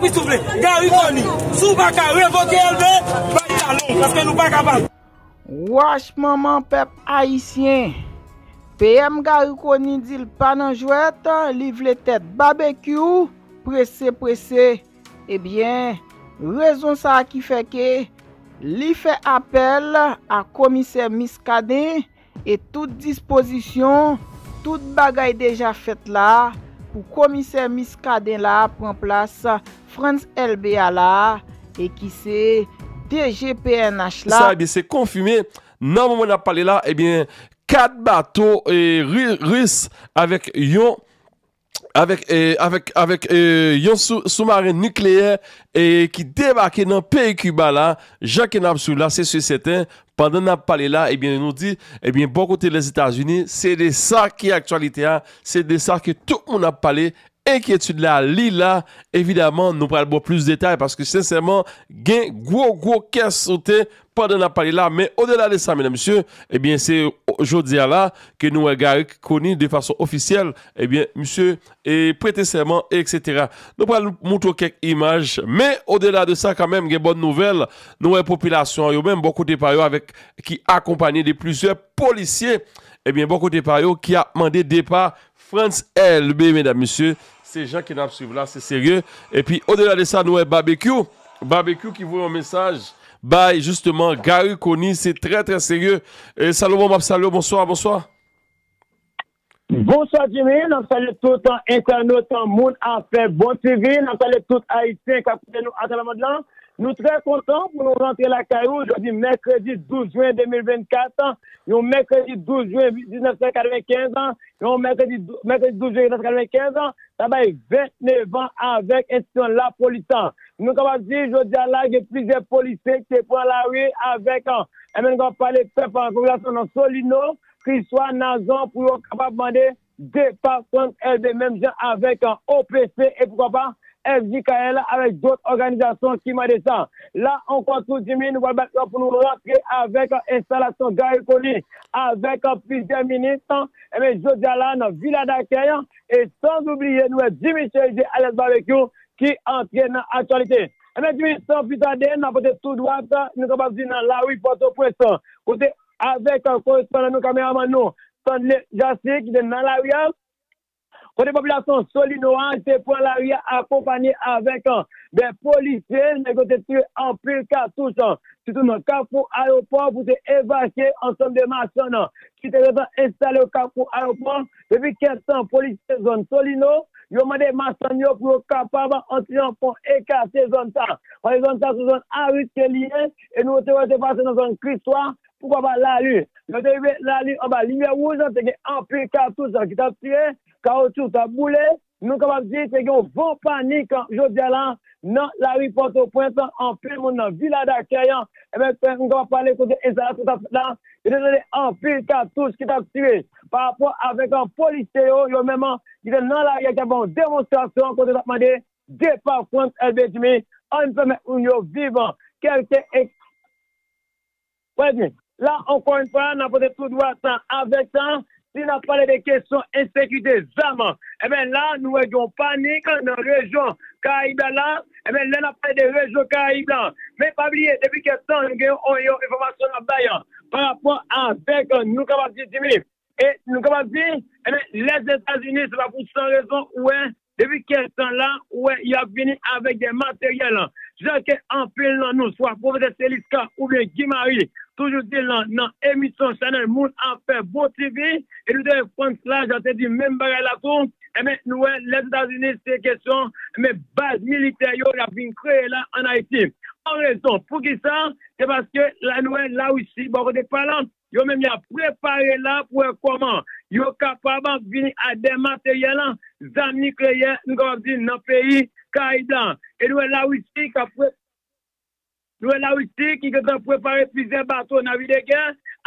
Wi souple Gary Conille si w pa ka revoke Elbé ba li talon w paske nou pa kapab. Wach manman pèp ayisyen. PM Gary Conille di l pa nan jwèt, li vle tèt Babekyou prese prese. Ebyen, rezon sa ki fè ke li fè apèl a komisè Muscadin. E tout dispozisyon, tout bagay deja fèt la a pou Komisè Muscadin la a pran plas Frantz Elbé a la a e ki se DG pnh la. Sa ebyen se konfime, nan moman nap pale la ebyen 4 bato Ris avèk yon avèk yon soumaren nikleyè ki debake nan peyi Kiba la, jan ke nap swiv la se si e sèten, pandan nap pale la ebyen nou di, ebyen bò kote Lèzetazini se de sa ki aktyalite a, se de sa ke tout moun ap pale, enkyetid la li la, evidaman nou pral baw plis detay paske sensèman gen gwo gwo kè sote. pandan nap pale la men odela de sa medamsye ebyen se jodia la ke nou wè Garrick Conille de fason ofisyèl ebyen misye prete sèman etc nou pral moutre w kèk imaj men odela de sa kanmenm gen bòn nouvèl nou wè popilasyon yo menm bò kote pa yo avèk ki akonpanye de plizyè polisye ebyen bò kote pa yo ki ap mande depa Frantz Elbe medam mesye se jan ke nap swiv la se serye epi o dela de sa nou wè Babekyou Babekyou ki voye yon mesaj bay jisteman Garry Conille se trè trè serye e Salomon map salye w bonswa bonswa. Bonswa Jimmy, nap salye tout entènot moun afè bon TV, nap salye tout ayisyen kap koute nou atravè mond lan, Nou trè kontan pou nou rantre lakay ou jodi mèkredi 12 jwen 2024, yon mèkredi 12 jwen 1995, yon mèkredi 12 jwen 1995, sa bay 29 an avèk enstitisyon lapolis sa. Nou kapab di jodi a la gen plizyè polisye ki te pran lari avèk MNGOP pale pèp popilasyon nan Solino, Kriswa, Nazon pou yo kapab mande Depatman ed menm jan avèk OPC e poukwa pa FJKL avèk dòt òganizasyon ki mande sa. La ankò tou Jimmy nou pral bat yo pou nou rantre avèk enstalasyon Garry Conille avèk plizyè minis enben jodi a la nan Vila Dakèy e sans ou bliye nou wè Jimmy Cherizier alyas Babekyou ki antre nan aktyalite. Enben Jimmy san pli tade nan pote tou dwat nou kapab di nan lari Pòtoprens kote avèk korespondan nou, kameramann nou, Stanley Jasmin ki te nan lari a, kote popilasyon Solino a te pran lari a akonpanye avèk 2 polisye, nèg yo te tire anpil katouch sitou nan kafou ayopò pou te evakye ansanm de machann ki te gentan enstale yo kafou ayopò. Depi kèk tan polisye zòn Solino yo mande machann yo pou yo kapab antre an fon e kase zòn sa, paske zòn sa se zòn a riske li ye. e nou te wè l te pase nan zòn Kristwa, poukwa pa Lali. Lè yo te rive Lali anba limyè wouj te gen anpil katouch ki t ap tire, kawotchou t ap boule, nou kapab di te gen yon van panik jodi a la nan lari Pòtoprens, anpil moun nan Vila Dakèy, nou kapab pale kote enstalasyon t ap fèt la, yo te tande anpil katouch ki t ap tire parapò avèk polisye yo, yo menm ki te nan lari a ki t ap fè yon demonstrasyon kote yo t ap mande 2 pa Frantz Elbé Jimmy Ann pèmèt moun yo viv kèlke eksperyans Frantz Elbé Jimmy La ankò yon fwa n ap pote tou dwa tan avèk tan Si n ap pale de kesyon ensekirite zam Enben la nou wè gen yon panik nan rejyon karayib la la Enben lè n ap pale de rejyon karayib la Men pa bliye depi kèk tan nou gen yon enfòmasyon n ap bay Parapò avèk nou kapab di Jimmy E nou kapab di, enben, Lèzetazini, se pa pou san rezon, ou wè, depi kèk tan la, ou wè, y ap vini avèk de materyèl, jan ke anpil nan nou, swa Pwofesè Teliska oubyen Guy Marie, toujou di l nan emisyon chanèl Moun Afè Bon TV, e nou te wè Frantz Lajean te di menm bagay la tou, enben, nou wè Lèzetazini se kesyon, enben, baz militè yo y ap vin kreye la ann Ayiti. An rezon, poukisa? Se paske la nou wè Larisi, bò kote pa l, Yo menm yap prepare la pou wè kòman yo kapab vini a dè materyèl zam nikleyè m kapab di nan peyi Karayib la. E nou wè Larisi kap pre nou wè Larisi ki gentan prepare plizyè bato navi de gè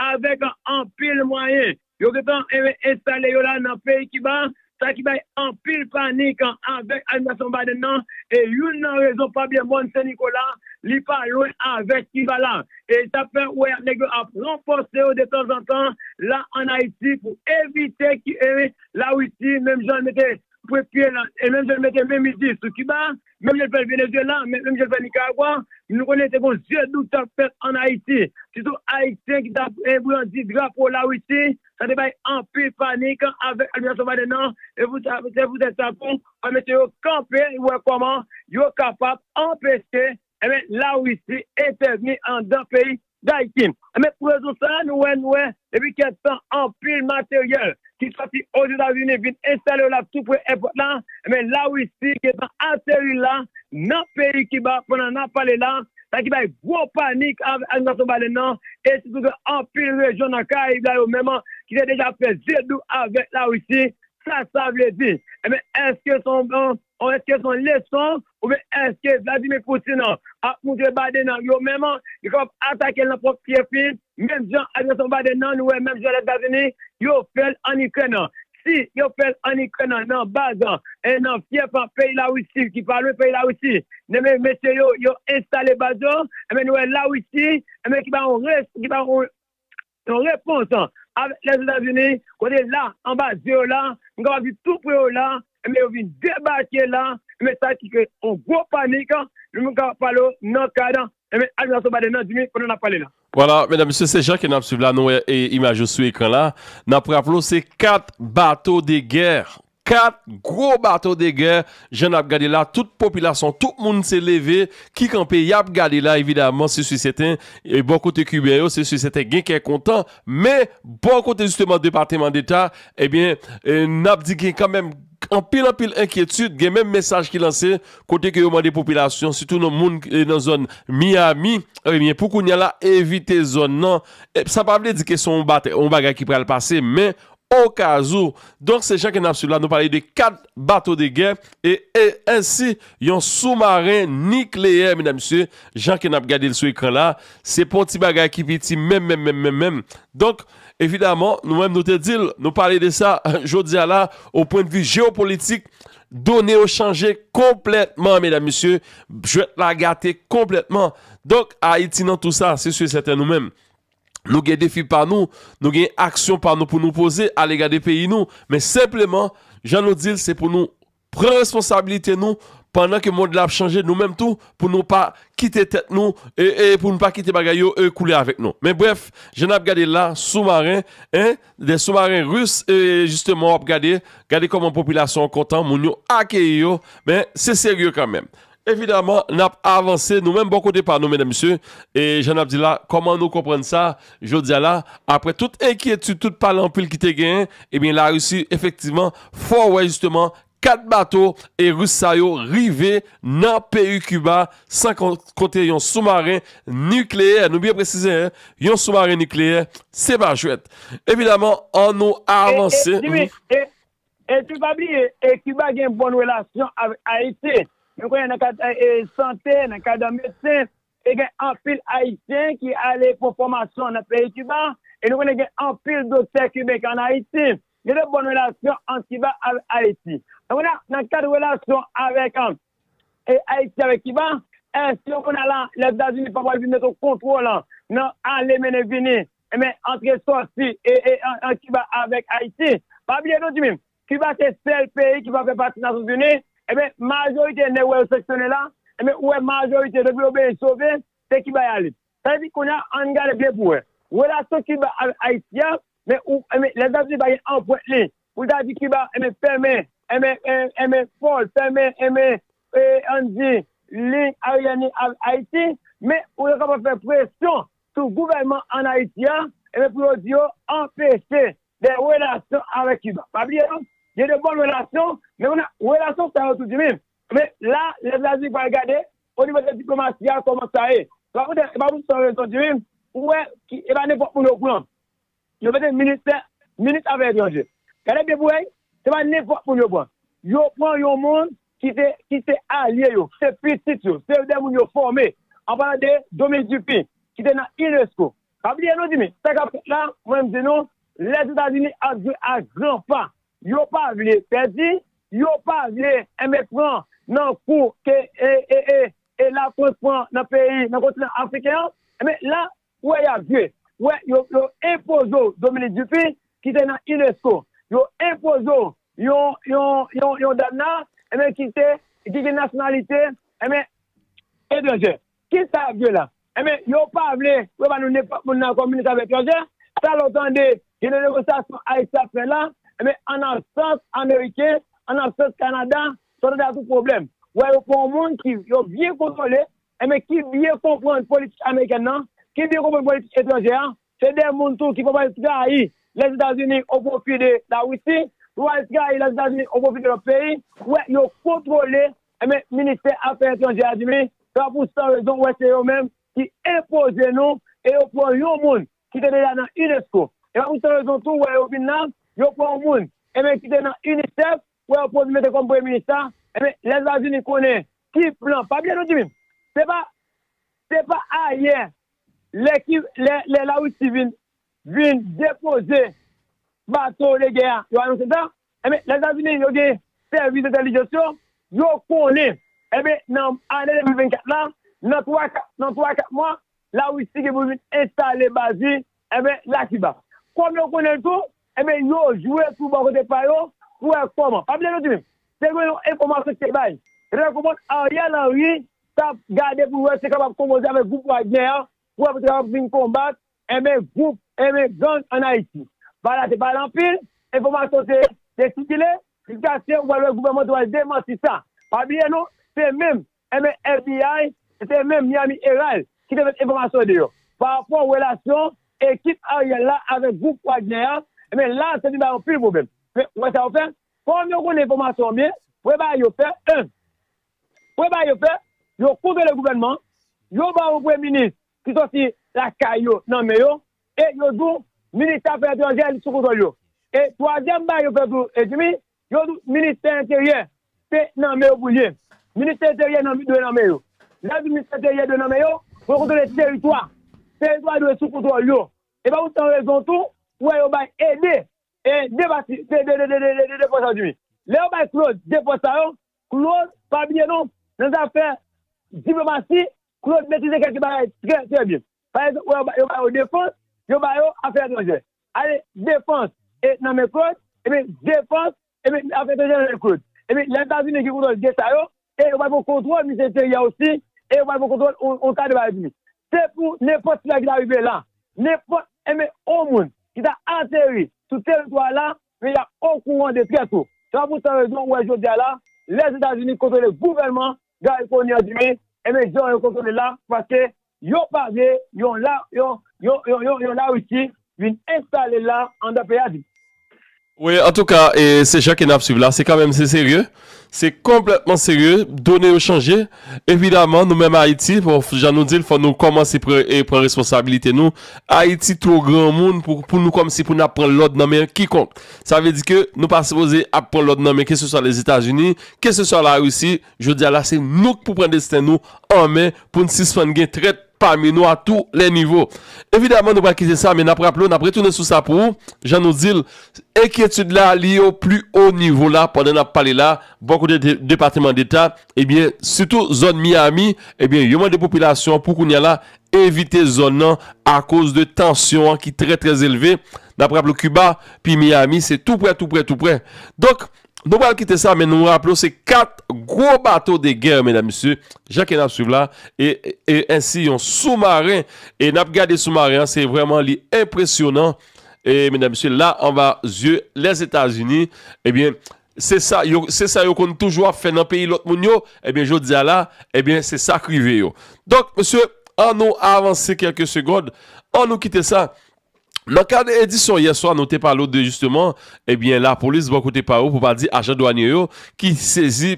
avèk anpil mwayen. Yo gentan enstale yo la nan peyi Kiba Sa ki bay anpil panik avèk administrasyon Biden nan, e youn nan rezon pab le mòn Sen Nikola, li pa lwen avèk Kivala. E sa fè ou wè nèg yo ap ranfòse yo de tanzantan la an Ayiti pou evite ke Larisi menm jan l mete pwent pye l e menm jan l mete menm mizil sou Kiba, menm jan l fè l Venezuela, menm jan l fè l Nicaragua, nou konnen te gon zye doub t ap fèt an Ayiti, sitou Ayisyen ki t ap brandi drapo Larisi, sa te bay anpil panik avèk administrasyon Biden an, e pou sa, se pou tèt sa tou, fò mesye yo kanpe wè kòman yo kapab anpeche, enben, Larisi entèvni anndan peyi Daikin. Anben pou rezon sa a nou wè nou wè depi kèk tan anpil materyèl ki sòti Ozetazini vin enstale yo la tou pre èpòt la, anben Larisi gentan ateri la nan peyi Kiba pandan nap pale la, sa ki bay gwo panik a administrasyon Biden nan e sitou gen anpil rejyon nan Karayib la yo menm ki te deja fè ze dou avèk Larisi. Sa sa vle di? Anben èske se yon èske se yon leson Oubyen èske Vladimir Putin an ap moutre Biden an yo menm li kapab atake l nan pwòp fyèf li, menm jan agresyon Biden nan nou wè menm jan Lèzetazini yo fè l ann Ikrèn an? Si yo fè l ann Ikrèn an nan baz nan fyèf peyi Larisi ki pa lwen peyi Larisi, enben mesye yo yo enstale baz yo, enben nou wè Larisi enben ki pa yon Yon repons avèk Lèzetazini, kote la, an ba zye yo la, m kapab di tou pre yo la, enben yo vin debake la, enben sa ki kreye yon gwo panik, nou menm kapab pale w nan kad, enben administrasyon Biden nan Jimmy, pandan n ap pale la. Vwala, medam, mesye, se jan ke n ap swiv la, nou wè imaj yo sou ekran la, n ap raple w se 4 bato de gè 4 gwo bato de gè jan nap gade la tout popilasyon tout moun se leve ki kanpe yap gade la evidaman se si sèten bò kote kiben yo se si sèten gen kè kontan men bò kote jisteman depateman deta ebyen nap di gen kanmenm anpil anpil enkyetid gen menm mesaj ki lanse kote ke yo mande popilasyon sitou nan moun nan zòn miyami ebyen pou kounya la evite zòn nan sa pa vle di ke son yon bagay ki pral pase men Okazou. Donk se jan ke nap swiv la nou pale de 4 bato de gè e ansi yon soumaren nikleyè medam mesye jan ke nap gadel sou ekran la se pa yon ti bagay ki piti menm menm menm menm menm donk evidaman nou menm nou te dil nou pale de sa jodia la o pwen de vi jeopolitik done yo chanje konplètman medam mesye jwèt la gate konplètman donk Ayiti nan tou sa se si e sèten nou menm. Nou gen defi pa nou, nou gen aksyon pa nou pou nou poze alega de peyi nou, men senpleman, jan nou di l, se pou nou pran responsabilite nou pandan ke mond la ap chanje, nou menm tou pou nou pa kite tèt nou, pou nou pa kite bagay yo koule avèk nou. Men brèf, jan n ap gade l la, soumaren, en, de soumaren ris, e jisteman w ap gade, gade kòman popilasyon an kontan, moun yo akeyi yo, men se serye kanmenm. Evidaman, n ap avanse nou menm bò kote pa nou, medam mesye, e jan n ap di la, kòman nou konprann sa jodi a la, aprè tout enkyetid, tout pale anpil ki te genyen, ebyen Larisi efektivman fè w wè jisteman 4 bato e ris sa yo rive nan peyi Kiba san konte yon soumaren nikleyè, nou byen presize hein, yon soumaren nikleyè, se pa jwèt. Evidaman, an nou avanse. E, Jimmy, e, Epi pa bliye, Kiba gen bon relasyon avèk Ayiti. Nou konnen nan kad sante, nan kad medsen, e gen anpil Ayisyen ki ale pran fòmasyon nan peyi Kiba. E nou konnen gen anpil doktè kiben ki ann Ayiti. Gen de bon relasyon ant Kiba avèk Ayiti. E kounye a, nan kad relasyon avèk Ayiti avèk Kiba, èske kounye a la, Lèzetazini pa pral vin mete yon kontwòl nan ale mennen vini Enben, antre sòti ant Kiba avèk Ayiti. Pa bliye non, Jimmy, Kiba se sèl peyi ki pa fè pati Nasyonzini. Enben, majorite nèg ou wè yo seksyone la, enben ou wè majorite depi yo benyen sove, se Kiba y ale. Sa vle di kounye a, ann gade byen pou wè. Relasyon Kiba avèk Ayiti a, enben, Lèzetazini pa gen anpwent li pou l ta di Kiba, enben, fèmen, enben, enben, pò l, fèmen, enben, ann di, liy aryèn li avèk Ayiti. Men, ou yo kapab fè presyon sou gouvènman an Ayiti a, ebyen pou yo di yo anpeche de relasyon avèk Kiba. Pa bliye non, gen de bòn relasyon, men kounye a, relasyon sa yo tou di menm. Men la, Lèzetazini pral gade onivo de diplomasi a kòman sa ye. Se pa pou tèt, se pa pou san rezon di menm, ou wè, e pa nenpòt moun yo pran. Yo mete ministè minis afè etranje. Gade de bouey, se pa nenpot moun yo pran. Yo pran yon moun ki te ki se alye yo, ki se pitit yo, se de moun yo fome. An palan de Dominique Duppy ki te nan unesco. Pa bliye nou zimi, sa kap fet la, mwen m di nou, Lezetazini ap jwe a gran pa. Yo pa vle pedi, yo pa vle enben pran nan kou ke e e e e lafrans pran nan peyi nan kontinan afriken an. Enben la Ou wè yap jwe. Ou wè yo enpoze w Dominique Dupuy ki te nan unesco. Yo enpoze w yon dam la enben ki te ki gen nasyonalite enben etranjè. Kisa yap jwe la? Enben yo pa vle pou yo ba nou nenpòt moun nan kòm minis afè etranjè. Sa lè w tande gen de negosyasyon Ayiti ap fè la enben an absans ameriken, an absans Canada, sa w tande a tout pwoblèm. Ou wè yo pran yon moun ki yo byen kontwole Enben ki byen konprann politik amerikèn nan, ki byen konprann politik etranjè a, se 2 moun tou ki pwal trayi Lèzetazini o pwofi de Larisi, pwal trayi Lèzetazini o pwofi de lòt peyi, ou wè yo kontwole enben ministè afè etranjè a di li, se pa pou san rezon ou wè se yo menm ki enpoze nou e yo pran yon moun ki te deja nan unesco, e pa pou san rezon tou ou wè yo vin la, yo pran yon moun enben ki te nan UNICEF, Wè yo pwòz mete kòm premye minis la, enben Lèzetazini konnen ki plan, pa bliye nou di menm, se pa, se pa ayè lè ki, lè, lè Larisi vin, vin depoze bato de gè a, yo anonse sa, enben Lèzetazini yo gen sèvis entèlijans yo, yo konnen, enben nan ane 2024 la, nan 3, 4, nan 3, 4 mwa, Larisi gen pou vin enstale baz li Enben, la ki ba. Kòm yo konnen l tou, enben yo jwe tou bò kote pa yo pou wè kòman. Pa bliye non timoun, te gen yon enfòmasyon ki te bay, lè konprann Ariel Henry t ap gade pou l wè si l kapab konpoze avèk gwoup Wagner an pou wè pou l te kapab vin konbat, enben gwoup, enben gang ann Ayiti. Ba la te pale anpil, enfòmasyon te te sikile jiskaske ou pral wè gouvènman an te pral demanti sa. Pa bliye non, se menm Enben, FBI, e se menm Miami Herald ki te met enfòmasyon deyò parapò relasyon ekip Ariel la avèk gwoup Wagner a, enben la sa vin bay anpil pwoblèm. Men, ou wè sa yo fè? Kòm yo konnen enfòmasyon an byen, ou wè bagay yo fè? En. Ou wè bagay yo fè? Yo kontwole gouvènman an, yo ba yon premye minis ki sòti lakay yo nan men yo, e yo di w Minis Afè Etranjè li sou kontwòl yo. E twazyèm bagay yo fè tou, Jimmy, Yo di w ministè enteryè se nan men yo pou l ye. Ministè enteryè dwe nan men yo. Lè yo di ministè enteryè dwe nan men yo, pou yo kontwole teritwa. Teritwa dwe sou kontwòl yo. E pa pou san rezon tou, ou wè yo bay ede de pati, de pò sa yo di wi. Lè yo bay Claude de pòs sa yo, Claude pa bliye non, nan zafè diplomasi, Claude metrize kèlke bagay trè trè byen. Pa egzanp wè yo ba yo defans, yo ba yo afè etranjè. Ale defans e nan men Claude, ebyen defans ebyen afè etranjè nan men Claude. Ebyen lè Etazini gen kontwòl 2 sa yo e yo pral pran kontwòl minis enteryè osi e yo pral pran kontwòl yon ta de bagay vini. Se pou nenpòt sila ki ta rive la, nenpòt ebyen yon moun ki ta ateri sou teritwa a la, ebyen yap okouran de trè to. Se pa pou san rezon ou wè jodi a la, lè Etazini kontwole gouvènman Guy Conyers di wi, enben jan yo kontwole la paske yo pa vle yon la yon yon yon yon la Russie vin enstale la andan peyi a di. Wi antouka e se jan ke nap swiv la se kanmenm se serye se konplètman serye done yo chanje evidaman nou menm Ayiti bon jan nou dil fò nou kòmanse pran e pran responsabilite nou Ayiti two granmoun pou pou nou kòmsi pou nap pran lòd nan men kikonk sa vle di ke nou pa sipoze ap pran lòd nan men keseswa Lèzetazini Keseswa Larisi, jodi a la se nou k pou pran desten nou an men pou n sispann gen trèt pami nou a tou lè nivo. Evidaman nou pa kite sa men n ap raple w, n ap retounen sou sa pou ou, jan nou di l, enkyetid la li o pli o nivo la pandan n ap pale la bò kote Depateman Deta ebyen sitou zòn Miyami ebyen yo mande popilasyon an pou kounye a la evite zòn nan akoz de tansyon an ki trè trè elve. N ap raple w Kiba pi Miyami se tou prè tou prè tou prè donk Nou pral kite sa men nou raple w se 4 gwo bato de gè medam mesye jan ke nap swiv la e ensi yon sou maren e nap gade sou maren an se vreman li enpresyonan e medam mesye la anba zye lèzetazini ebyen se sa yo se sa yo konn toujou ap fè nan peyi lòt moun yo ebyen jodia la ebyen se sak rive yo donk mesye an nou avanse kelke segond an nou kite sa Nan kad edisyon yè swa nou te pale w de jisteman ebyen lapolis bò kote pa yo pou pa di ajan dwanye yo ki sezi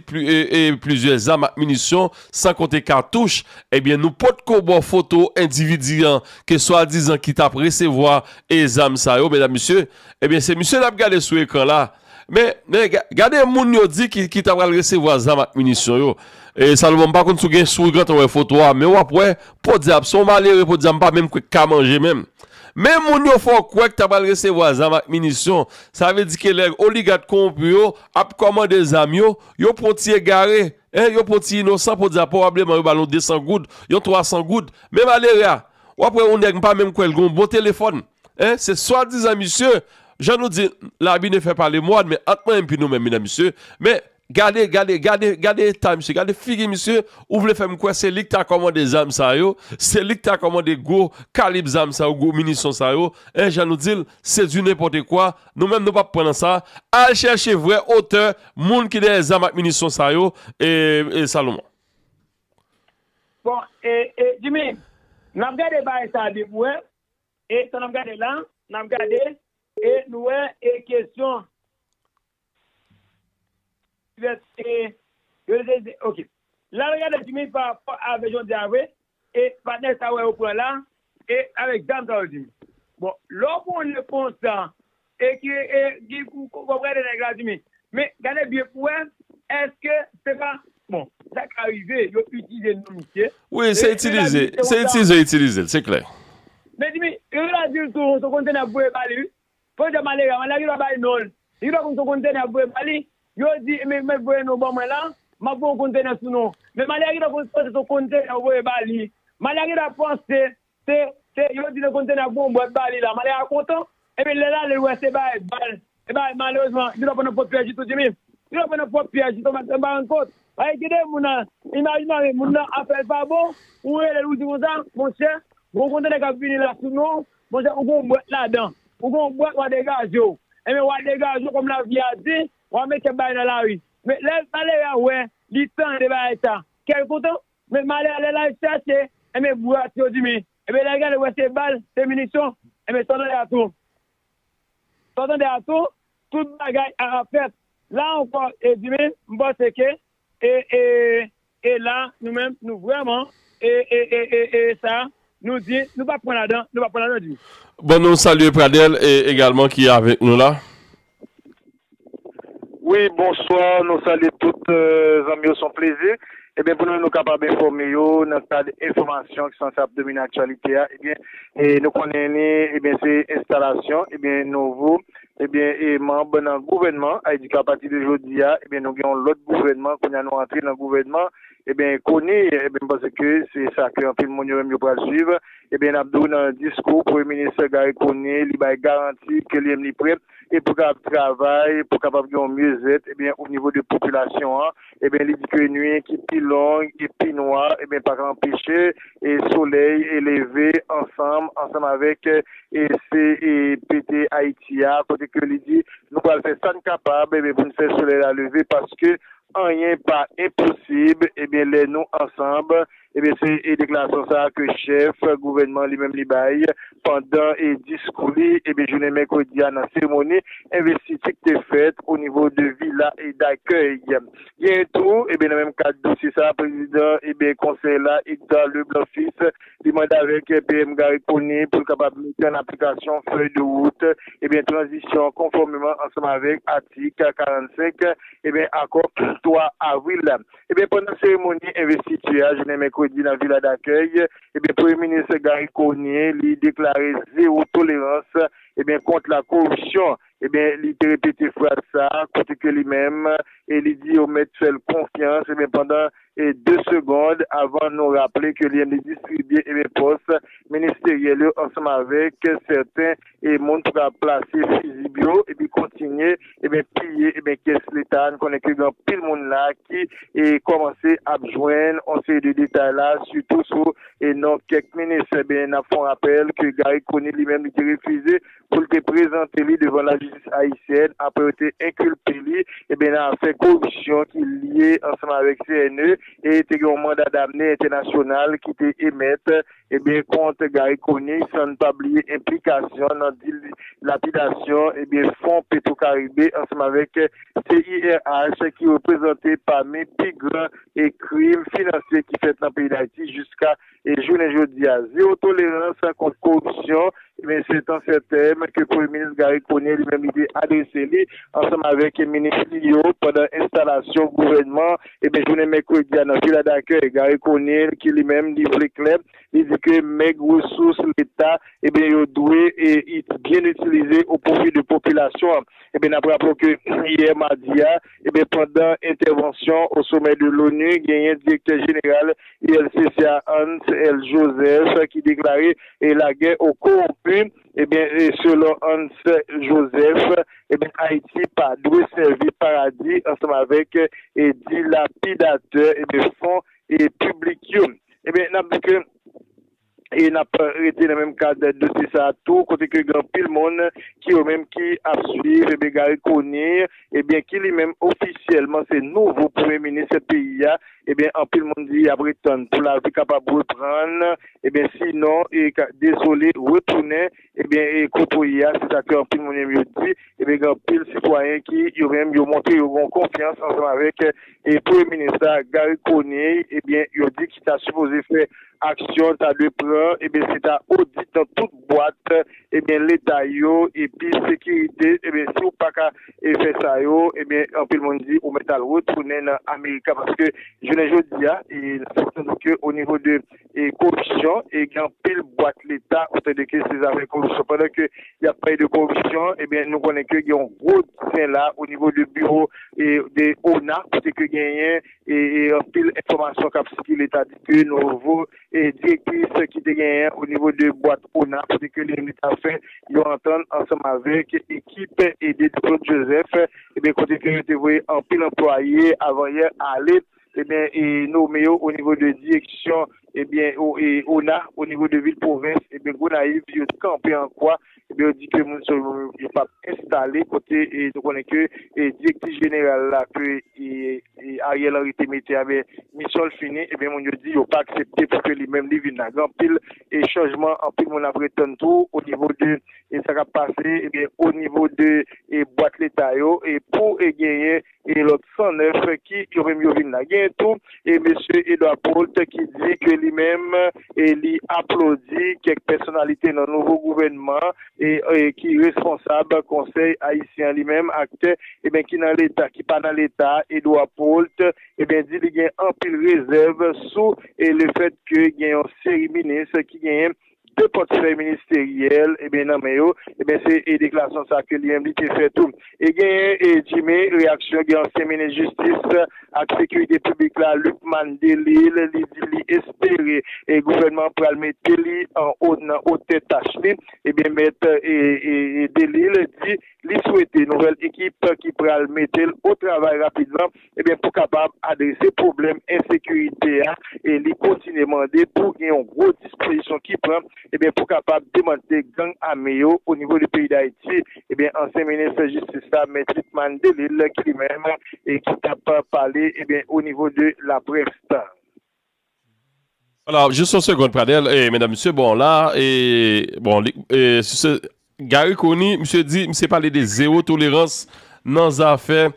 plizyè zam ak minisyon san konte katouch ebyen nou potko ba w foto endividi an ke swadizan ki t ap resevwa zam sa yo medam mesye ebyen se misye n ap gade sou ekran la. Men, men, gade moun yo di ki ta pral resevwa zam ak minisyon yo. E, Salomon, m pa konn si w gen, si w gentan wè foto a, men w ap wè, podyab, ap se yon malere, podyab, m pa menm kwè ki ka manje menm. Men moun yo fè w kwè ki ta pral resevwa zam ak minisyon, sa vle di ke lè oligat kowonpi yo ap kòmande zam yo, yo pran yon ti egare, en, yo pran yon ti inosan, podyab, pwobableman yo ba l yon 200 goud, yon 300 goud. Men malere a, w ap wè yon nèg, m pa menm kwè l gen yon bon telefòn. Hein se swadizan misye Jan nou di labi ne fè pale mouad men ant mwen epi nou menm medan mesye men gade gade gade gade eta misye gade figi misye ou vle fèm kwè se lik ta kòmande zam sa yo se lik ta kòmande gwo kalib zam sa yo gwo minisyon sa yo hein jan nou dil se du nenpòte kwa nou menm nou pap pran nan sa al chèche vrè otè moun ki dèyè zam ak minisyon sa yo ee Salomon. Bon e e Jimmy nap gade bagay sa de pou wè. E sa n ap gade la, n ap gade e nou wè e kesyon libète yo te di ok. La nou gade di mi pa rapò avè jodi a vre e patnè sa wè yo pran la e avèk zam sa yo di mi. Bon lè w pran yon repons Eke e gin pou konprann de nèg la di men. Men gade byen pou wè eske se pa bon sa ka rive yo itilize non misye. Wi se itilize se itilize yo itilize l se klè. Men di men yo ta di l tou son kontenè yap voye bali wi. Fon jan malere a malere a ki pa bay non l. Li ki pa konn son kontenè yap voye bali. Yo di men mèt voye non ban mwen la map voye yon kontenè sou non. Men malere a ki ta konn panse son kontenè yo voye bali. Malere a ki ta panse Se, se, yo di nan konn tene ak bon bwat ba li la, Malè a kontan, epi lè l ale l wè se bay, ba l, e bay, malerezman, li t ap pran nan pwòp pyèj li tou Jimmy, li t ap pran nan pwòp pyèj li tou Max, m pa rann kont, paske gen de moun nan, imaj m ale, moun nan afè l pa bon, ou rele l ou di konsa, monchè, gon kontenè k ap vini la sou non w, monchè ou gon bwat ladan, ou gon bwat w a degaje w, enben w a degaje w kòm lavi a di, w a mete bay nan lari, men lè malere a wè, li tande bagay sa, kè l kontan? Men malè a lè l al chache, enben bwat yo di men, enben lè l gade l wè se bal, se minisyon, enben sa w tande a tou, sa w tande a tou, tout bagay a ap fèt. La ankò e di men, m panse ke e e e la nou menm nou vrèman e e e e e sa. Nou di, nou pa pran ladan, nou pa pran ladan di. Bon nou salye Pradel e egalman ki avek nou la. Wi bonswa nou salye tout zanmi yo son plezi ebyen pou nou nou kapab enfòme yo nan kad enfòmasyon ki sanse ap domine aktyalite a ebyen e nou konnen ni ebyen se enstalasyon ebyen nouvo ebyen e manb nan gouvènman ayidika apati de jodi a ebyen nou gen yon lòt gouvènman kounya nou antre nan gouvènman Ebyen koni ebyen m panse ke se sa ke anpil moun yo menm yo pral swiv ebyen n ap di w nan diskou premye minis Garry Conille li bay garanti ke li menm li prè e pou kapab travay pou kapab gen yon myezèt ebyen o nivo de popilasyon an ebyen li di ke nwi ki pi long e pi nwa ebyen pa ka anpeche e solèy e leve ansanm ansanm avèk e se e pete Ayiti a kote ke li di nou pral fè sa n kapab ebyen pou n fè solèy la leve paske Anyen pa enposib ebyen lè nou ansanb ebyen se deklarasyon sa ke chèf gouvènman li menm li bay pandan diskou li ebyen jounen mèkredi a nan seremoni envestiti ki te fèt o nivo de vila dakèy genyen tou ebyen nan menm kad dosye sa prezidan ebyen konsèy la Edgard Leblanc Fils Li mande avèk PM Garry Conille pou l kapab mete an aplikasyon fèy de wout ebyen tranzisyon an konfòmeman ansanm avèk atik 45 ebyen akò 3 avril la. Ebyen pandan seremoni envestiti a jounen mèkredi nan Vila Dakèy ebyen Premye Minis Garry Conille li deklare zewo tolerans ebyen kont la koripsyon. Ebyen, li te repete fraz sa a kote ke li menm e li di yo mèt fè l konfyans, ebyen pandan e de segond avan nou raple ke li li distribye ebyen pòs ministeryèl yo ansanm avèk sèten e moun pou ka plase fizib yo epi kontinye ebyen piye ebyen kès leta a, n konnen ke gen anpil moun la ki e kòmanse ap jwenn on seri de detay la sitou sou e non kèk minis, ebyen n ap fè on rapèl ke Garry Conille li menm li te refize pou l te prezante li devan lajistis ayisyèn apre yo te enkilpe li nan afè koripsyon ki lye ansanm avèk CNE e te gen yon manda damne entènasyonal ki te emèt kont Garry Conille san n pa bliye enplikasyon nan dilapidasyon fon Petro Caribe ansanm avèk CIRH ki reprezante pami pi gran krim finansye ki fèt nan peyi Dayiti jiska e jounen jodi a zewo tolerans kont koripsyon ebyen se tan sèten ke premye minis Garry Conille li menm li te adrese li ansanm avèk minis li yo pandan enstalasyon gouvènman ebyen jounen mèkredi a nan Vila Dakèy Garry Conille ki li menm li vle klè li di ke mèg resous leta ebyen yo dwe byen itilize o pwofi de popilasyon an ebyen n ap raple w ke yè madi a. Ebyen pandan entèvansyon o somè de l'ONU genyen direktè jeneral ULCC a Hans El Joseph ki deklare lagè o kowonpi, ebyen selon Hans El Joseph ebyen Ayiti pa dwe sèvi paradi ansanm avèk dilapidatè ebyen fon piblik yo. Ebyen nap di ke. E n ap rete nan menm kad dosye sa tou kote ke gen anpil moun ki yo menm ki ap swiv ebyen Garry Conille ebyen ki li menm ofisyèlman se nouvo premye minis peyi a ebyen anpil moun di y ap ret tann pou lavi kapab reprann ebyen sinon e ka dezole retounen Ebyen e kote w ye a se sa ke anpil moun menm yo di, ebyen gen anpil sitwayen ki yo menm yo montre yo gen yon konfyans ansanm avèk e premye minis la Garry Conille ebyen yo di ki ta sipoze fè aksyon l ta dwe pran ebyen se ta odit nan tout bwat ebyen leta yo epi sekirite ebyen si w pa ka e fè sa yo ebyen anpil moun di ou mèt al retounen nan America paske jounen jodi a e n ap fè konnen ke o nivo de koripsyon e gen anpil bwat leta ou tande ke se zafè koripsyon pandan ke y ap pale de koripsyon ebyen nou konnen ke gen yon gwo disè la o nivo de biwo de ona kote ke genyen anpil enfòmasyon k ap sikile ta di ke nouvo direktris ki te genyen o nivo de bwat ona kote ke li menm ta fè yon antann ansanm avèk ekip de Claude Joseph ebyen kote ke yo te voye anpil anplwaye avan yè ale. Ebyen e nome yo o nivo de direksyon ebyen e ona o nivo de vil pwovens ebyen Gonayiv yo kanpe an kwa ebyen yo di ke moun sa yo pa p enstale kote e nou konnen ke e direktiv jeneral la ke e Ariel Henry te mete a ebyen misyon l fini ebyen moun yo di yo pa aksepte pou ke li menm li vin la gen anpil e chanjman anpil moun ap ret tann tou o nivo de e sa k ap pase ebyen o nivo de e bwat leta yo e pou e genyen. e lòt 109 ki yo menm yo vin la. Genyen tou e mesye Edouard Brault ki di ke li menm e li aplodi kèk pèsonalite nan nouvo gouvènman e ki responsab konsèy ayisyen an li menm aktè e ben ki nan leta ki pa nan leta a Edouard Brault e ben di li gen anpil rezèv sou e le fèt ke gen yon seri minis ki genyen 2 pòtfèy ministeryèl ebyen nan men yo ebyen se e deklarasyon sa ke li menm li te fè tou. E genyen e Jimmy reyaksyon gen ansyen minis jistis ak sekirite piblik la Lucmane Delille li di li espere e gouvènman an pral mete li an o nan otè tach li ebyen mèt e Delille di li swete nouvèl ekip ki pral mete l o travay rapidman ebyen pou kapab adrese pwoblèm ensekirite a e li kontinye mande pou gen yon gwo dispozisyon ki pran ebyen pou kapab demantle gang ame yo o nivo de peyi Dayiti ebyen ansyen minis jistis la mèt Lucmane Delille ki li menm e ki tap pale ebyen o nivo de laprès. Ala jis yon segond pradel e medam mesye bon la e bon li e se Gary Conille misye di misye pale de zero tolerans nan zafè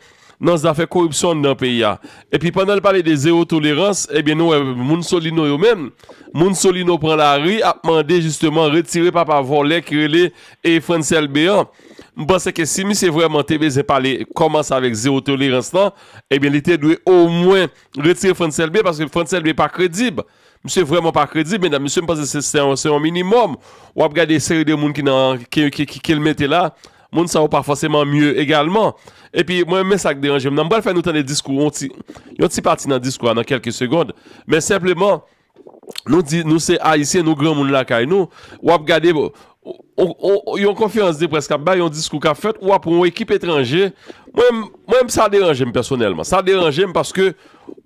nan zafè koripsyon anndan peyi a epi pandan li pale de zero tolerans ebyen nou wè moun Solino yo menm moun Solino pran lari ap mande jisteman retire papa vòlè ki rele e Frantz Elbe an m panse ke si misye vrèman te bezyen pale kòmanse avèk zero tolerans lan ebyen li te dwe omwen Retire Frantz Elbe paske Frantz Elbe pa kredib. Misye vrèman pa kredib medam. Misye m panse se se yon minimòm. W ap gade seri de moun ki nan ke l mete la. Moun sa yo pa fòseman mye egalman. E pi mwen men sa k deranje m nan. M pral fè nou tande diskou yon ti pati nan diskou a nan kèlke segond. Men senpleman. Nou di nou se Ayisyen, nou granmoun lakay nou, w ap gade yon konferans de près k ap bay, yon diskou k ap fèt, ou ap pran yon ekip etranje, mwen menm sa deranje m pèsonèlman, sa deranje m paske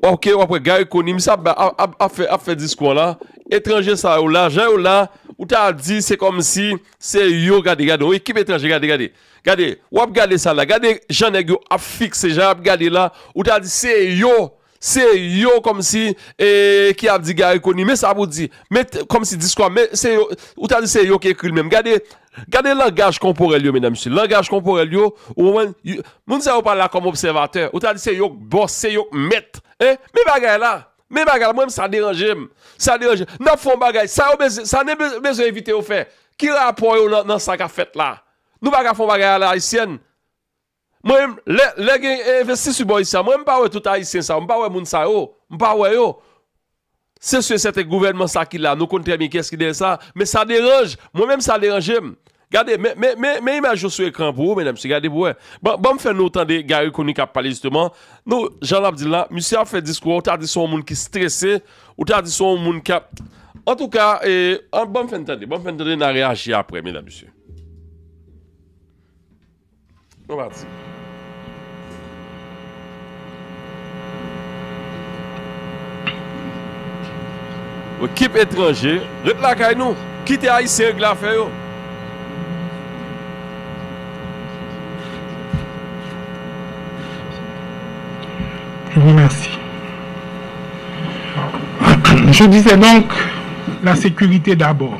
ok w ap wè Garry Conille ap fè diskou an la, etranje sa yo la, jan yo la, ou ta di se kòm si se yo gade, gade yon ekip etranje, gade, gade, gade, w ap gade sa la, gade jan nèg yo ap fikse, jan y ap gade la, ou ta di se yo Se yo komsi ki ap di Garry Conille men sa pou di, men komsi diskou a, men se yo, ou ta di se yo ki ekri l menm. Gade, gade langaj konporèl yo medam mesye, langaj konporèl yo, ou konprann, moun sa yo pa la kom obsèvatè, ou ta di se yo k bòs, se yo k mèt, en, men bagay la, men bagay la, mwen menm sa deranje m, sa deranje m, n ap fè yon bagay, sa yo bezwen, sa n bezwen envite yo fè, ki rapò yo nan sa k ap fèt la? Nou pa ka fè yon bagay a la ayisyèn? Mwen menm lè lè gen envestisy bò isi a mwen menm mpa wè tout ayisyen sa yo mpa wè moun sa yo mpa wè yo se su e sèten gouvènman sa ki la nou konn trè byen kiyès ki dèyè sa men sa deranj mwen menm sa deranje m gade men men men men imaj yo sou ekran pou ou medam mesye gade pou wè ban banm fè nou tande Garry Conille kap pale jisteman nou jan lap di l la misye ap fè diskou a ou ta di son moun ki strese ou ta di son moun kap antouka e an banm fè n tande banm fè n tande na reyaji aprè medam mesye. Nou pati. Ekip etranje, ret lakay nou. Kite Ayisyen regle afè yo. Je disais donc, la sécurité d'abord.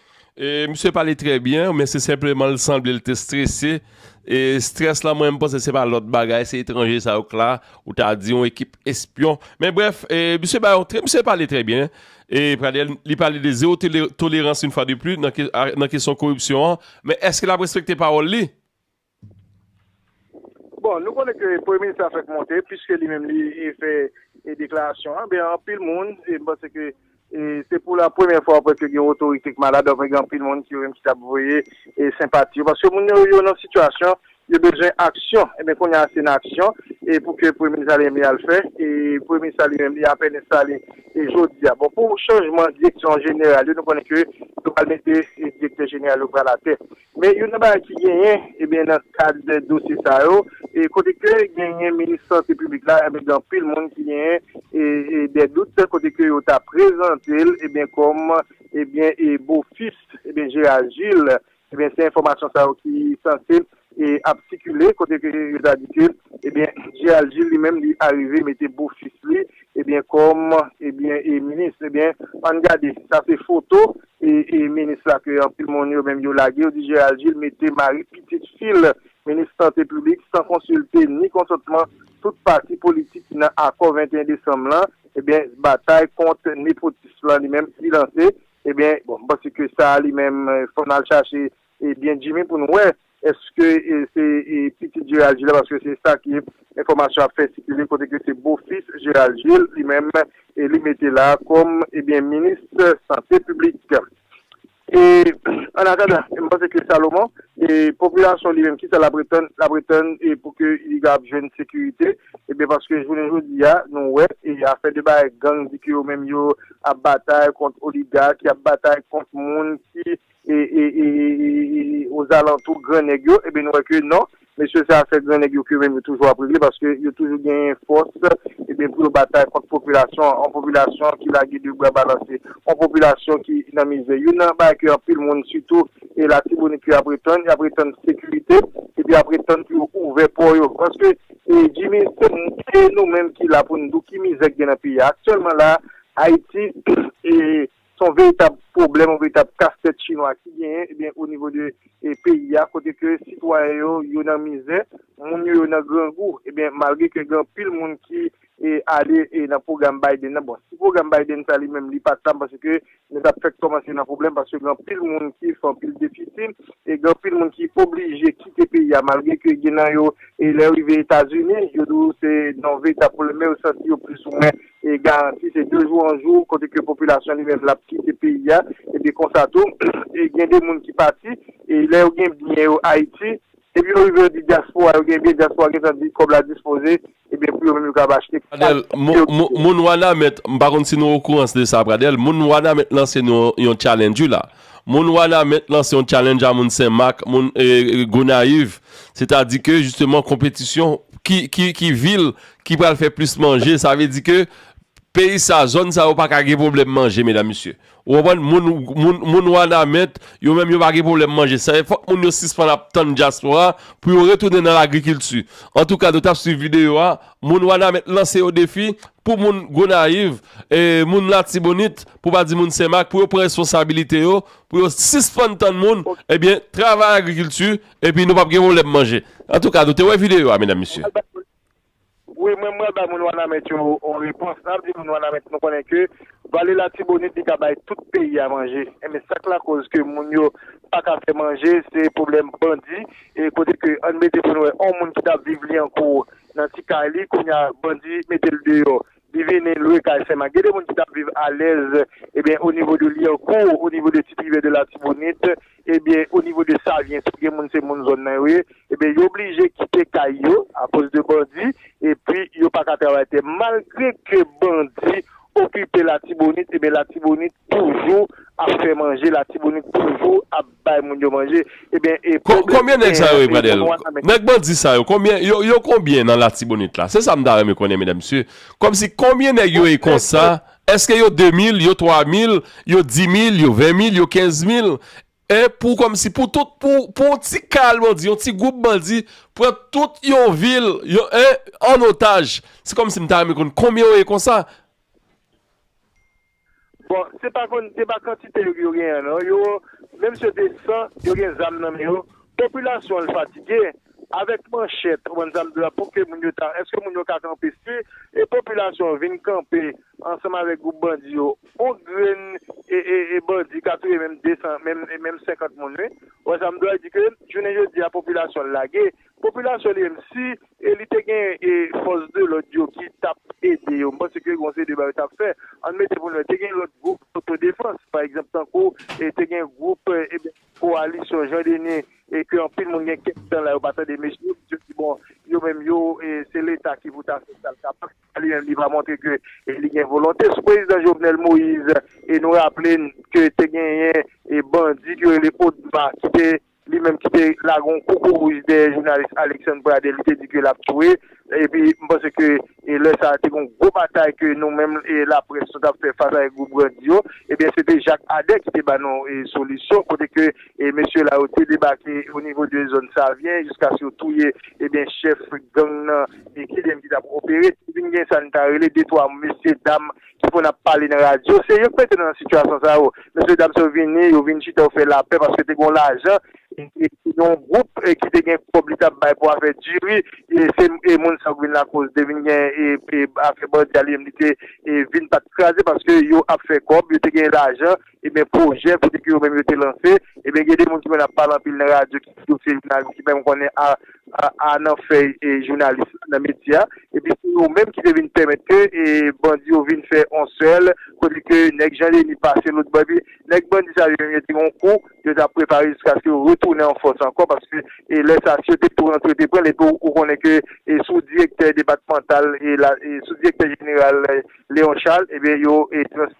Misye pale trè byen men se senpleman l sanble l te strese e strès la mwen m panse se pa lòt bagay se etranje sa yo k la ou ta di yon ekip espyon men brèf misye bay yon trè misye pale trè byen e Pradel li pale de zewo tolerans yon fwa de pli nan kesyon koripsyon an men èske l ap respekte pawòl li? Bon, nou konnen ke premye minis la fèk monte, piske li menm li fè deklarasyon an, men anpil moun, m panse ke se pou la premyè fwa apre ke gen yon otorite ki malad, apre gen anpil moun ki menm ki tap voye senpati yo, paske moun yo yo nan sitiyasyon, yo bezwen aksyon, e ben kounya se nan aksyon e pou ke premye minis la li menm li al fè, e premye minis la li menm li apèn enstale e jodi a. Bon, pou chanjman direksyon jeneral yo, nou konnen ke yo pral mete direktè jeneral yo pral atè, Men youn nan bagay ki genyen ebyen nan kad de dosye sa yo e kote ke genyen minis sante piblik la ebyen gen anpil moun ki genyen e e de dout kote ke yo ta prezantel ebyen kòm ebyen e bo fis ebyen Gérard Gilles ebyen se enfòmasyon sa yo ki sanse e ap sikile kote ke yo ta di ke ebyen Gérard Gilles li menm li arive mete bo fis li ebyen kòm ebyen e minis ebyen ann gade sa se foto minis la ke anpil moun yo menm yo lage, yo di Gérald Gilles mete mari pitit fi l, minis sante piblik san konsilte ni konsantman tout pati politik ki nan akò 21 desanm lan, ebyen batay kont nepotis lan li menm li lanse, ebyen bon m panse ke sa li menm fò n al chache E byen Jimmy pou nou wè eske se pitit Gerald Gilles la paske se sa ke enfòmasyon ap fè sikile kote ke se bo fis Gerald Gilles li menm e li mete la kòm e byen minis sante piblik. E an atandan m panse ke Salomon e popilasyon li menm ki sa lap retann lap retann e pou ke li kab jwenn sekirite e byen paske jounen jodi a nou wè e afè de bagay gang di ke yo menm yo ap batay kont oliga ki ap batay kont moun ki ozalantou gran nèg yo, enben nou wè ke non, mesye sa sè gran nèg yo ke menm yo toujou ap regle paske yo toujou genyen fòs enben pou yo batay kont popilasyon an, yon popilasyon ki lage 2 bra balanse, yon popilasyon ki nan mizè. Youn nan bagay ke anpil moun sitou e Latibonit ke y'ap etann, y'ap etann sekirite epi y'ap etann pou yo ouvè pò yo paske Jimmy se nou menm ki la pou nou di w ki mizè ki gen nan peyi a aktyèlman la a Ayiti e Se yon veritab pwoblèm, yon veritab kastèt chinwa ki genyen ebyen o nivo de peyi a kote ke sitwayen yo, yo nan mizè, moun yo yo nan grangou ebyen malgre ke gen anpil moun ki ale nan pwogram Biden nan bon si pwogram Biden sa li menm li pa ta m panse ke nou ta p fèk kòmanse nan pwoblèm paske gen anpil moun ki fè anpil defisi e gen anpil moun ki oblije kite peyi a malgre ke gen nan yo lè yo rive Etazini yo di w se nan yon veritab pwoblèm men yo santi yo plis ou mwen e garanti se de jou an jou kote ke popilasyon li menm lap kite peyi a epi konsa tou gen de moun ki pati e lè yo gen byen yo Ayiti epi yo rive yo di dyaspora yo gen byen dyaspora gen tan di kòb la dispoze ebyen pou yo menm yo kab achte Pradel, moun wanament, m pa konn si nou okourans de sa Pradel, moun wanament lanse nou yon challenge wi la. Moun wanament lanse yon challenge a moun sen mak, moun Gonayiv, se ta di ke jisteman konpetisyon ki vil ki pral fè plis manje sa vle di ke peyi sa zòn sa yo paka gen pwoblèm manje medam mesye ou konprann moun moun wanament yo menm yo pa gen pwoblèm manje sa e fòk moun yo sispann ap tann dyaspora pou yo retounen nan lagrikilti antouka nou tap swiv videyo a moun wanament lanse yo defi pou moun gonayiv e moun latibonit pou pa di moun senmak pou yo pran responsabilite yo pou yo sispann tann moun ebyen travay agrikilti epi nou pap gen pwoblèm manje antouka nou te wè videyo a medam mesye. Wi mwen pral bay moun wanament yo yon repons nap di moun wanament nou konnen ke vale latibonit li ka bay tout peyi a manje enben sak lakoz ke moun yo paka fè manje se pwoblèm bandi e kote ke ann mete pou nou wè yon moun ki tap viv lyankou nan ti kay li kounya bandi metel deyò Li vini lwe kay sèlman. Gen de moun ki tap viv alèz ebyen o nivo de Lyèkour, o nivo de Titrivè de Latibonit, ebyen o nivo de Savyen tou gen moun se moun zòn nan yo ye, ebyen yo blije kite kay yo akoz de bandi epi yo pa ka travay tè malgre ke bandi okipe Latibonit ebyen Latibonit toujou ap fè manje, Latibonit toujou ap. Bay moun yo manje ebyen e pwoblèm ki genyen nan peyi pou nou an nan men. Nèg bandi sa yo konbyen yo konbyen nan latibonit la se sa m ta renmen konnen medam mesye kòmsi konbyen nèg yo ye konsa èske yo 2 mil yo 3 mil yo 10 mil yo 20 mil yo 15 mil e pou kòmsi pou tout pou pou yon ti kal bandi yon ti gwoup bandi pran tout yon vil yo e an otaj se kòmsi m ta renmen konn konbyen yo ye konsa. Bon se pa konn se pa kantite yo yo genyen non yo menm si yo te 100 yo gen zam nan men yo popilasyon an fatige avèk manchèt ou konn sa m di w la pou ke moun yo ta èske moun yo ka kanpe si e popilasyon an vin kanpe ansanm avèk gwoup bandi yo on grenn e e e bandi ka touye menm 200 menm e menm 50 moun wi ou wè sa m di w la di ke jounen jodi a popilasyon an lage Popilasyon li menm si li te gen fòs de lòd yo ki t ap ede yo, m panse ke gen yon seri de bagay yo t ap fè. Ann mete pou nou wè, te gen lòt gwoup otodefans, pa egzanp tankou te gen gwoup kowalisyon Jean Denis e ke anpil moun gen kèk tan la yo pa tande mesye yo, misye di bon yo menm yo se leta ki pou ta fè sa l kapab, leta li menm li pa montre ke li gen volonte. Sou prezidan Jovenel Moïse nou raple n ke te genyen bandi ki rele ODMA ki te. Li menm ki te lage yon koukourouj dèyè jounalis Alexandre Pradel li te di ke lap tou e epi m panse ke lè sa te gen yon gwo batay ke nou menm laprès nou tap fè fas avèk gwoup bandi yo ebyen se te Jacques Ader ki te ba nou solisyon kote ke mesye la yo te debake o nivo de zòn Savyen jiskaske yo touye ebyen chèf gang nan ki te menm ki tap opere te vin gen sa nou ta rele de twa mesye dam ki konn ap pale nan radyo se yo ki mete nou nan sitiyasyon sa yo mesye dam sa yo vini yo vin chita yo fè lapè paske te gen yon lajan epi yon gwoup ki te gen kòb li tap bay pou afè diri se moun sa yo ki vin lakoz te vin gen afè bandi a li menm li te vin pat kraze paske yo ap fè kòb yo te gen lajan. ebyen pwojè kote ke yo menm yo te lanse, ebyen gen de moun ki konn ap pale anpil nan radyo ki di yo se jounalis ki menm konnen a nan fèy jounalis nan metye a, epi se yo menm ki te vin pèmèt ke bandi yo vin fè on sèl kote ke nèg Jean Denis pase lotbò epi nèg bandi sa yo menm yo te gen yon kou yo tap prepare jiskaske yo retounen an fòs ankò paske lè sa si yo te pran si yo te pranl epi ou konnen ke sou direktè depatmantal sou direktè jeneral Léon Charles ebyen yo trans.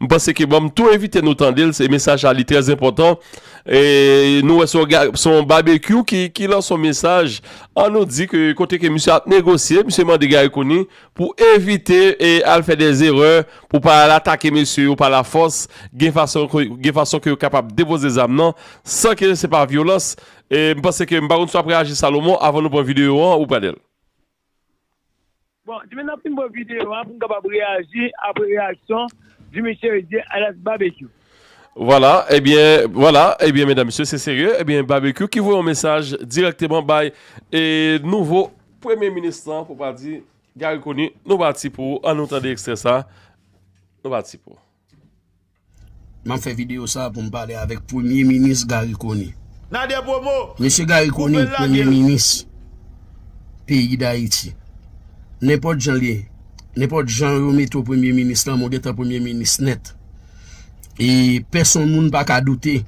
M panse ke banm tou envite nou tande l se mesaj sa li trè enpòtan e nou wè se yon babekyou ki lanse yon mesaj an nou di ke kote ke misye ap negosye misye mande Garry Conille pou evite e al fè de zerè pou pa al atake mesye yo pa la fòs gen fason ke yo kapab depoze zam nan san ke se pa vyolans e m panse ke m pa konn si w ap reyaji Salomon avan nou pran videyo an ou pran de l. Bon, demen nap fin bo video a pou m kapab reyaji apre reyaksyon Jimmy Cherizier alyas Babekyou. Vwala, ebyen, vwala, ebyen medan mesye se serye, ebyen Babekyou ki voye yon mesaj dirèkteman bay e nouvo premye minis lan pou pa di Garry Conille, nou pati pou an nou tande ekstrè sa, nou pati pou. Map fè video sa pou m pale avèk premye minis Garry Conille. Nader promo. Mesye Garry Conille premye minis peyi Dayiti. Nenpòt jan li, nenpòt jan yo mete w premye minis lan mwen gentan premye minis nèt. E pèsonn moun pa ka doute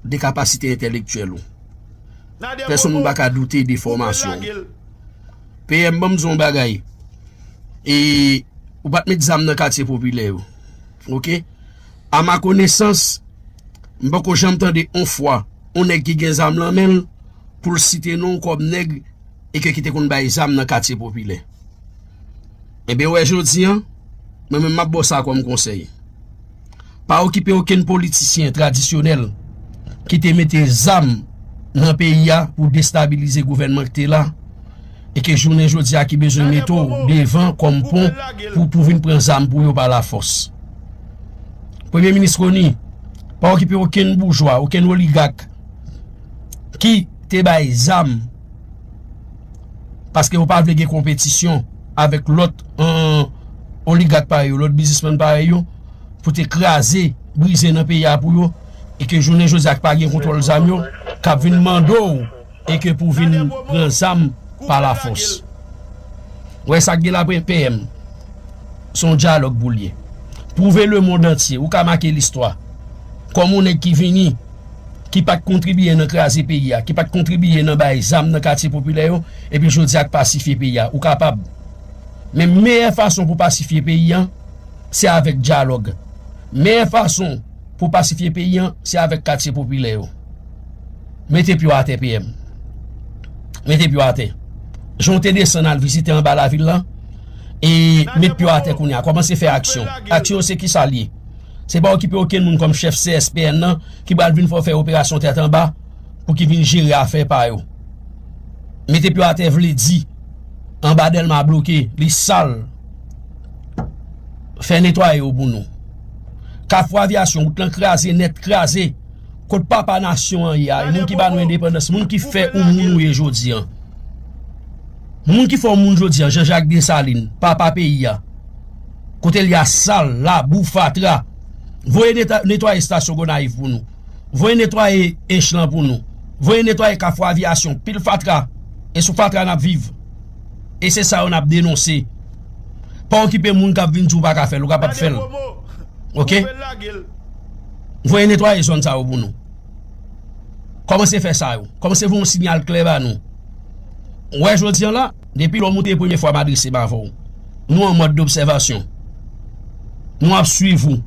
de kapasite entèlektyèl ou. Pèsonn moun pa ka doute de fòmasyon ou. PM banm di w yon bagay e ou pat met zam nan katye popilè yo ok a ma konesans m poko janm tande yon fwa yon nèg ki gen zam nan men l pou l site non w kòm nèg e ke ki te konn bay zam nan katye popilè. Ebyen wè jodi an, mwen menm map baw sa kòm konsèy. Pa okipe okenn politisyen tradisyonèl ki te mete zam nan peyi a pou destabilize gouvènman ki te la e ke jounen jodi a ki bezwen mete w devan kòm pon pou pou vin pran zam pou yo pa lafòs. Premye minis Rony, pa okipe okenn boujwa, okenn oligak ki te bay zam. Paske yo pa vle gen konpetisyon avèk lòt oligak pa yo, lòt bizisman pa yo pou te kraze, brize nan peyi a pou yo e ke jounen jodi ak pa gen kontwòl zam yo kap vin mando ou e ke pou vin pran zam pa la fòs. Wè sak gen la pwen PM. Son dyalòg pou liye. Pwouve le mond antye. Ou ka make listwa. Kòm ou nèk ki vini. ki pat kontribiye nan kraze peyi a, ki pat kontribiye nan bay zam nan katye popilè yo, epi jodi a k pasifye peyi a. Ou kapab. Men meyè fason pou pasifye peyi an, se avèk dyalòg. Meyè fason pou pasifye peyi an, se avèk katye popilè yo. Mete pye w atè PM. Mete pye w atè. Jan w te desann al vizite anba lavil lan, e met pye w atè kounye a. Kòmanse fè aksyon. Aksyon se kisa l ye? Se pa okipe okenn moun kòm chèf CSPN nan ki pral vin fè w fè operasyon tèt anba pou ki vin jere afè pa yo. Mete pyo atè vle di anba Dèlma bloke, li sal. Fè netwaye yo pou nou. Kafou Avyasyon, wout lan kraze nèt, kraze. Kot papa nasyon an ye a? E moun ki ba nou endepandans, moun ki fè ou moun ou ye jodi an? Moun ki fè ou moun jodi an, Jean Jacques Dessalines, papa peyi a? Kote li a sal, labou, fatra. Voye netwaye estasyon Gonayiv pou nou. Voye netwaye Ench lan pou nou. Voye netwaye Kafou Aviyasyon. Pil fatra. E sou fatra n ap viv. E se sa yo n ap denonse. Pa okipe moun k ap vin di w pa ka fè l. Ou kapab fè l. Ok? Voye netwaye zòn sa yo pou nou. Kòmanse fè sa yo. Kòmanse voye yon sinyal klè ba nou. Ou wè jodi an la. Depi lè w moute premye fwa m adrese m avè w, nou an mòd dobsèvasyon. Nou ap swiv ou.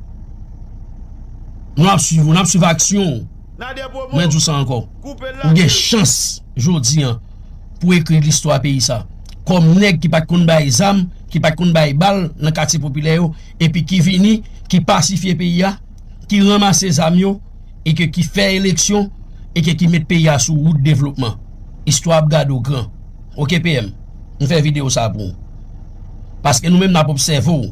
Nou ap swiv ou. N ap swiv aksyon w. Mwen di w sa ankò. Ou gen chans jodi an pou ekri listwa peyi sa kòm nèg ki pa t konn bay zam, ki pa t konn bay bal nan katye popilè yo epi ki vini, ki pasifye peyi a, ki ranmase zam yo. e ke ki fè eleksyon e ke ki met peyi a sou wout devlopman istwa ap gade w gran ok PM m fè video sa pou w paske nou menm nap obsève w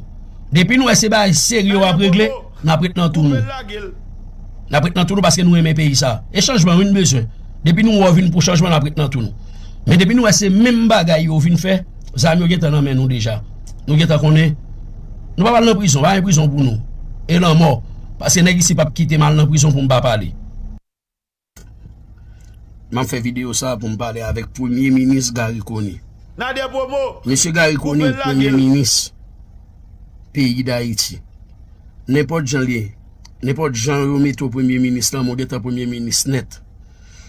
depi nou wè se bagay serye wap regle nap ret nan tou nou nap ret nan tou nou paske nou renmen peyi sa e chanjman wi n bezwen depi nou wè w vin pou chanjman nap ret nan tou nou men depi nou wè se menm bagay yo vin fè. Zam yo gentan nan men nou deja Nou gentan konnen Nou pap al nan prizon, pa gen prizon pou nou E lanmò, paske nèg isi pap kite m al nan prizon pou m pa pale M ap fè videyo sa pou m pale avèk premye minis Garry Conille Mesye Garry Conille premye minis peyi Dayiti Nenpòt jan li ye, nenpòt jan yo mete w premye minis lanmò gentan premye minis nèt.